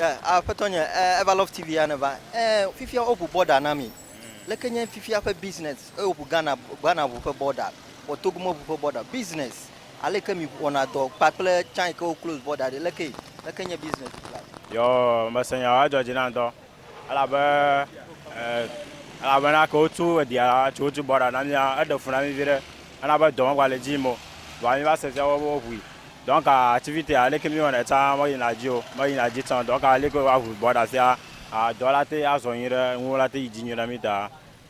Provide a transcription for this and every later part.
Eh, aƒetɔ nye, eh, Eva Love TV ya neva. Eh, fifia woʋu border na mi. Leke nye fifia ƒe business? Eh, woʋu Ghana, Ghana ʋu ƒe border. Vɔ Togo meʋu ƒe border. Business. Aleke mi wɔna dɔ kpakple tsã yi ke wo close border ɖi? Lekee? Leke nye business fifia? Yoo, mese nya o, edzɔ dzi nam ŋutɔ. Elabe, e, elabena ke wotu edia la, tso wotu bɔɖa na mía, eɖe fu na mí viɖe, ena be dɔ megale dzi yim o, vɔa míva se fia be woʋui. Donc, activité a, leke míwɔnɛ tsã meyina dzi o, meyina dzi tsã o. Donc, leke woaʋui bɔɖa fia, a, dɔ la te azɔ nyuiɖe, nuwo la te yi dzi nyuiɖe na mí ta.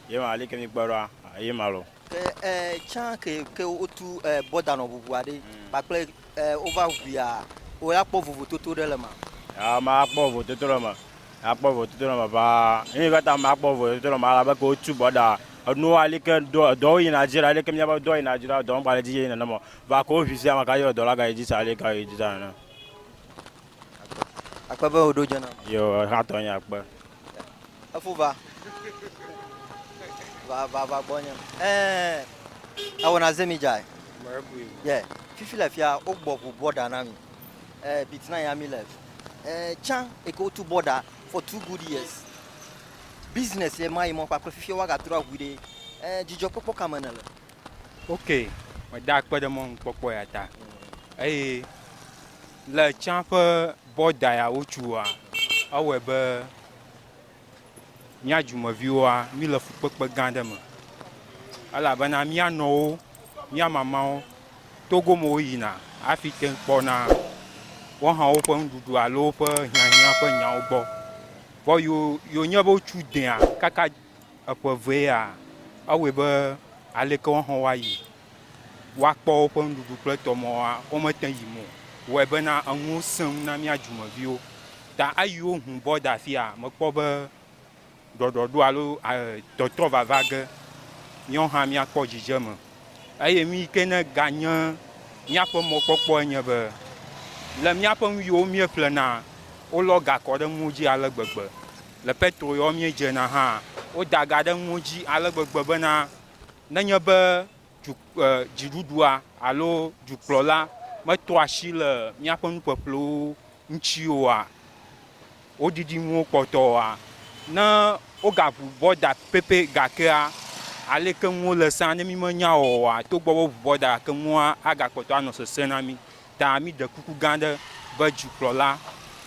Ye ma li ke mi kpe ɖoa, ye ma lo. Ke e tsã ke ke wo tu e bɔda nɔ ʋuʋua ɖe kpakple e wo va ʋuia wo la kpɔ vovototo ɖe le ma? A ma a kpɔ vovototo ɖe ma, a kpɔ vovototo ɖe ma vaa. Eye va ta ma kpɔ vovototo ɖe ma la be ke wo tu bɔda enu wa li ke dɔ dɔ wo yi na dzi la li ke mi a be dɔ yi na dzi la dɔ ŋgba le dzi yeye nene mɔ va ke wo ʋuisia ma ka ye dɔ la ga yi dzi sa li ka yi dzi sa nene. Akpe be woɖo dze nam. Yo, ehatɔ nye akpe. Efu va. Va, va, va gbɔ nye. Eh, ewo na zemi jai. Yeah, fifi le fia, o gbɔ ʋu bɔda na mi. Eh, bit na ya mi le. Eh, chan, eke o tu bɔda for two good years. Business ye ma yi mɔ kpakple fifi wa ga trɔ ahui de. Eh, jijɔ kpɔkpɔ kame ne le. Ok, me da akpe de mɔ nkpɔkpɔ ya ta. Eye. Le tsã ƒe bɔda ya wotsoa, ewɔe be mía dumeviwoa, míle fukpekpe gã aɖe me elabena mía nɔwo, mía mamawo, togo me woyina hafi te ŋu kpɔna woawo hã woƒe nuɖuɖu alo woƒe hiahiã ƒe nyawo gbɔ. Vɔ yo yonye be wotso dea kaka eƒe evea, ewɔe be aleke woawo hã woayi woakpɔ woƒe nuɖuɖu kple tɔmɔwoa, womete yim o. Wɔe bena enuwo sẽ ŋu na mía dumeviwo. Ta eyiwo ŋu bɔ de afia, mekpɔ be ɖɔɖɔɖo alo tɔtrɔ vava ge míawo hã míakpɔ dzidzeme. Eye nu yi ke neganye míaƒe mɔkpɔkpɔe nye be le míaƒe nu yiwo míeƒlenaa, wolɔ ga kɔ ɖe nuwo dzi ale gbegbe. Le Petro yawo míedzena hã, woda ga ɖe nuwo dzi ale gbegbe bena nenye be du, e, dziɖuɖua alo dukplɔla metoa asi le míaƒe nuƒeƒlewo ŋuti oa, wodidi nuwo kpɔtɔ oa, ne wogaʋu bɔ da pɛpɛ gakea, aleke nuwo le sẽa ne mímenya oa, togbɔ be woʋu bɔ da gake nua agakpɔtɔ anɔ sesẽ na mí. Ta míɖe kuku gã aɖe be dzikplɔla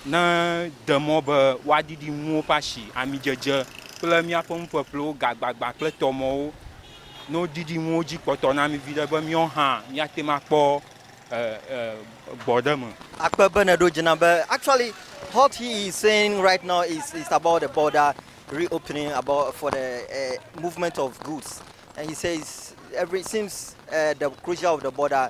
nede mɔ be woaɖiɖi nuwo ƒe asi, amidzedze kple míaƒe nuƒeƒlewo, gagbagbã kple tɔmɔwo. Ne woɖiɖi nuwo dzi kpɔtɔ na mí viɖe be míawo hã míate ŋu akpɔ gbɔ ɖe eme. Akpe be nèɖo dzi nam be actually what he is saying right now is is about the border reopening about for the movement of goods and he says every since the closure of the border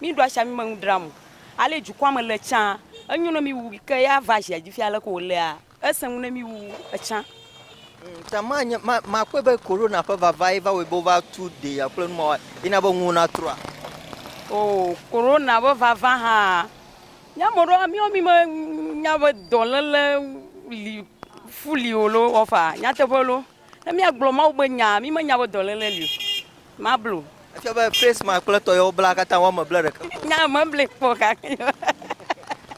Mi ɖo asia mi me nu dram o. Ale dukɔa me le tsã. Enyo ne mi wu ke ya va zia dzi fia leke wo lea. Ese nu ne mi wu etsã. Ta ma nye ma ma kpɔe be corona ƒe vava ye va wɔe be wo va tu de ya kple numa wa ye na be nuwo na trɔa. Oo corona be vava hã nye ame ɖewo mi wo mi me nya be dɔlele li fu li o lo wɔfa nyateƒe lo. Ne míagblɔ Mawu be nyaa, mímenya be dɔléle li o. Mablo. Efia be Face Max kple tɔ yewo bla katã woame ble ɖeka kpɔ. Nya meble kpɔ gake.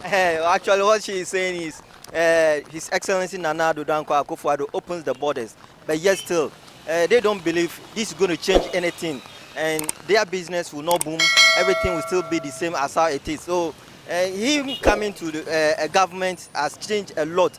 Actually what she is saying is uh, His Excellency Nana Addo Dankwa Akufo Addo opens the borders, but yet still uh, they don't believe this is going to change anything, and their business will not boom. Everything will still be the same as how it is. So uh, him coming to the, uh, a government has changed a lot.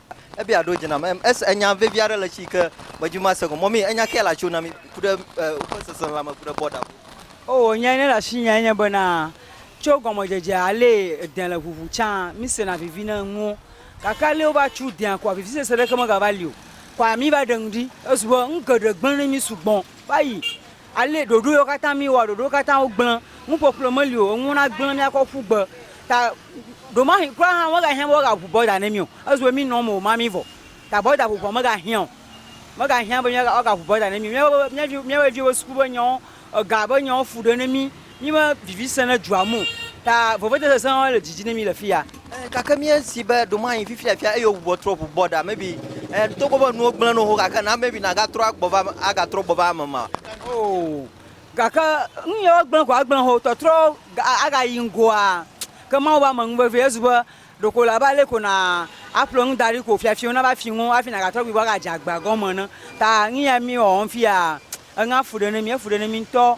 Ebia ɖo dze nam. Em, es- enya vevi aɖe le esi ke medzi be mase gɔme. Mɔmi, enya kae le asiwò na mi ku ɖe eh, woƒe seselelãme ku ɖe bɔda ŋu? Oo, nya yi ne le asinye enye bena, tso gɔmedzedzea, alee edẽ le ʋuʋu tsã, mísena vivi ne nuwo. Gake alee wova tsu dẽa koa, vivisese ɖeke megava li o. Koa míva ɖe nu ɖi. Ezu be nu geɖe gblẽ na mí sugbɔ. Vayi Ale ɖoɖo yewo katã mi wɔa ɖoɖo katã wo gblẽ nu ƒoƒlo me li o enuwo na gblẽ mia kɔ ƒu gbe ta ɖo ma hi kura hã wo ga hiã be wo ga ʋu bɔda ne mi o ezu be mi nɔ me o ma mi vɔ ta bɔda ʋuʋua me ga hiã o me ga hiã be mi ga wo ga ʋu bɔda ne mi mia be mia vi mia be viwo be suku be nyawo ega be nyawo fu ɖe ne mi Mí be vivi sẽ ne dua mu o, ta vevete sesẽ aɖe le dzi dzi ne mí le fi ya. Ẽ, gake míesi be ɖo mayi fifia fia, eye wòbubɔ trɔ ʋu bɔ ɖa. Maybe, ẽ, togbɔ be nuwo gblẽ nɔ xoxo, gake na maybe nàgatrɔ agbɔ va, agatrɔ gbɔ va eme ma. Oo, gake nu yawo gblẽ ko agblẽ xɔ tɔtrɔ ga, agayi ŋgɔa. Ke Mawu be ame ŋu vevie. Ezu be ɖeko wòle abe ale ko na aƒle nu da ɖi ko fiafia wò nava fi ŋuwò hafi nàgatrɔ gbɔe gbɔ agadze agba gɔme ene. Ta nu ya mí wɔwɔm fi ya, eŋea fu ɖe ne mí, efu ɖe ne mí ŋutɔ.